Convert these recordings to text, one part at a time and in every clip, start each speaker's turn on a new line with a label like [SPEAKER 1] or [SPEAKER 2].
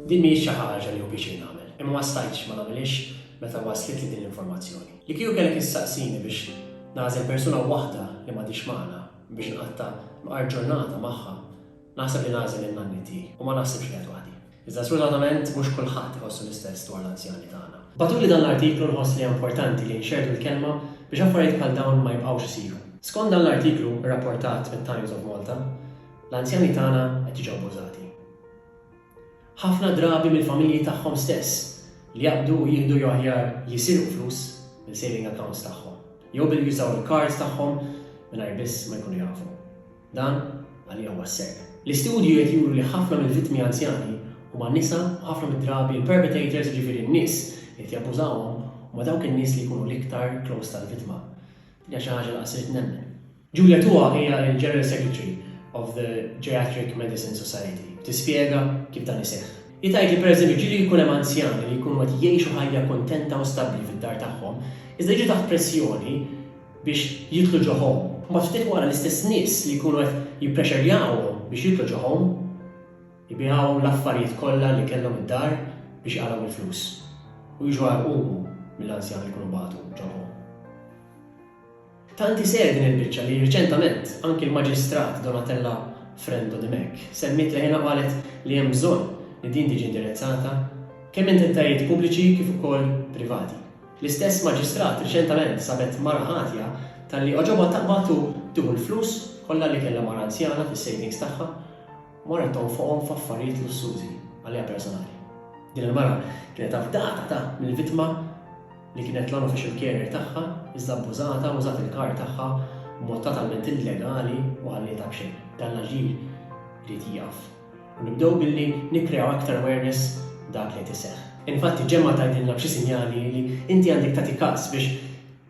[SPEAKER 1] Din mhijiex xi ħaġa li hu pjaċir nagħmel, imma ma stajtx ma nagħmilhiex meta waslitli din l-informazzjoni. Li kieku kellek issaqsini biex nagħżel persuna waħda li m'għadhiex magħna biex nqatta' mqar ġurnata magħha, naħseb li nagħżel lil nanni tiegħi u ma naħsibx li qed waħdi. Iżda sfrutatament mhux kulħadd iħossu l-istess dwar l-anzjani tagħna. Bagħtuli dan l-artiklu nħoss li importanti li nxerrdu l-kelma biex affarijiet bħal dawn ma jibqgħux isiru. Skont dan l-artiklu rrapportat mit-Times of Malta, L-anzjani tagħna qed jiġu abbużati. Ħafna drabi mill-familji tagħhom stess li jaqbdu u jieħdu jew aħjar jisirqu flus mill-saving accounts tagħhom, jew billi jużaw il-cards tagħhom mingħajr biss ma jkunu jafu. Dan għalija huwa s-serq. L-istudji qed juru li ħafna mill-vittmi anzjani huma nisa u ħafna mid-drabi l-perpetrators jiġifieri n-nies li qed jabbużawhom huma dawk in-nies li jkunu l-iktar close tal-vittma. Din hija xi ħaġa li qas irrid nemmen. Julia Tua hija l-General Secretary of the Geriatric Medicine Society tispjega kif dan iseħħ. Hi tgħid li pereżempju ġieli jkun hemm anzjani li jkunu qed jgħixu ħajja kuntenta u stabbli fid-dar tagħhom, iżda jiġu taħt pressjoni biex jidħlu ġo home. Mbagħad ftit wara l-istess nies li jkunu qed jipprexxerjawhom biex jidħlu ġo home, ibiegħuhom l-affarijiet kollha li kellhom id-dar biex iqalgħu l-flus. U jiġu għarqumu mill-anzjani li jkunu bagħtu ġo home. Tant hi serj'a din il-biċċa li riċentament anki l-Maġistrat Donatella Frendo Dimech semmiet leħinha u qalet li hemm bżonn li din tiġi indirizzata kemm minn entitajiet pubbliċi kif ukoll privati. L-istess Maġistrat riċentament sabet mara ħatja talli għoġobha taqbad u tieħu l-flus kollha li kellha mara anzjana fis-savings tagħha u marret tonfoqhom f'affarijiet lussużi għaliha personali. Din il-mara kienet afdata ta' mill-vittma, li kienet l-unofficial carrier tagħha, iżda abbużatha u użat il-car tagħha b'mod totalment illegali u ħallietha b'xejn. Dan l-aġir irid jieqaf. U nibdew billi nikkreaw aktar awareness dak li qed iseħħ. Infatti ġemgħa tgħidilna b'xi sinjali li inti għandek tagħti każ biex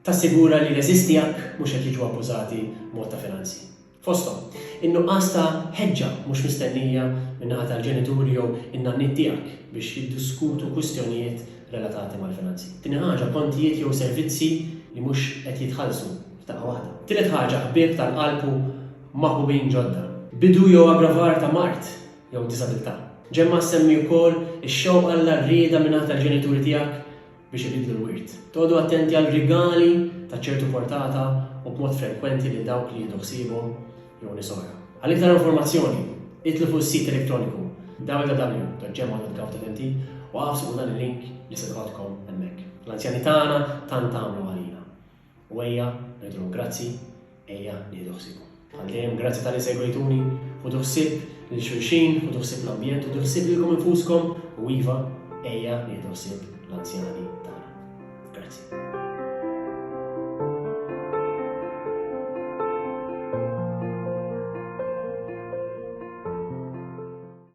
[SPEAKER 1] tassigura li l-għeżież tiegħek mhux qed jiġu abbużati b'mod ta' finanzi. fosthom in-nuqqas ta' ħeġġa mhux mistennija min-naħa tal-ġenituri jew in-nanniet tiegħek biex jiddiskutu kwistjonijiet relatati mal-finanzi. Tieni ħaġa, kontijiet jew servizzi li mhux qed jitħallsu f'daqqa waħda. Tielet ħaġa, ħbieb tal-qalb u maħbubin ġodda. Bidu jew aggravar ta' mard jew diżabilità. Ġemma ssemmi wkoll ix-xewqa la r-rieda min-naħa tal-ġenituri tiegħek biex ibiddlu l-wirt. Toqgħodu attenti għal rigali ta' ċertu portata u b'mod frekwenti lil dawk li jieħdu ħsiebhom jew nies oħra. Għal iktar informazzjoni, idħlu fuq is-sit elettroniku www.gmo.gov.mt u agħfsu fuq dan il-link li se nħoddkom hemmhekk. L-anzjani tagħna tant għamlu għalina. U ejja ngħidulhom grazzi, ejja nieħdu ħsiebhom. Bħal dejjem, grazzi talli segwejtuni, ħudu ħsieb lil xulxin, ħudu ħsieb l-ambjent, ħudu ħsieb lilkom infuskom u iva, ejja nieħdu ħsieb l-anzjani tagħna. Grazzi.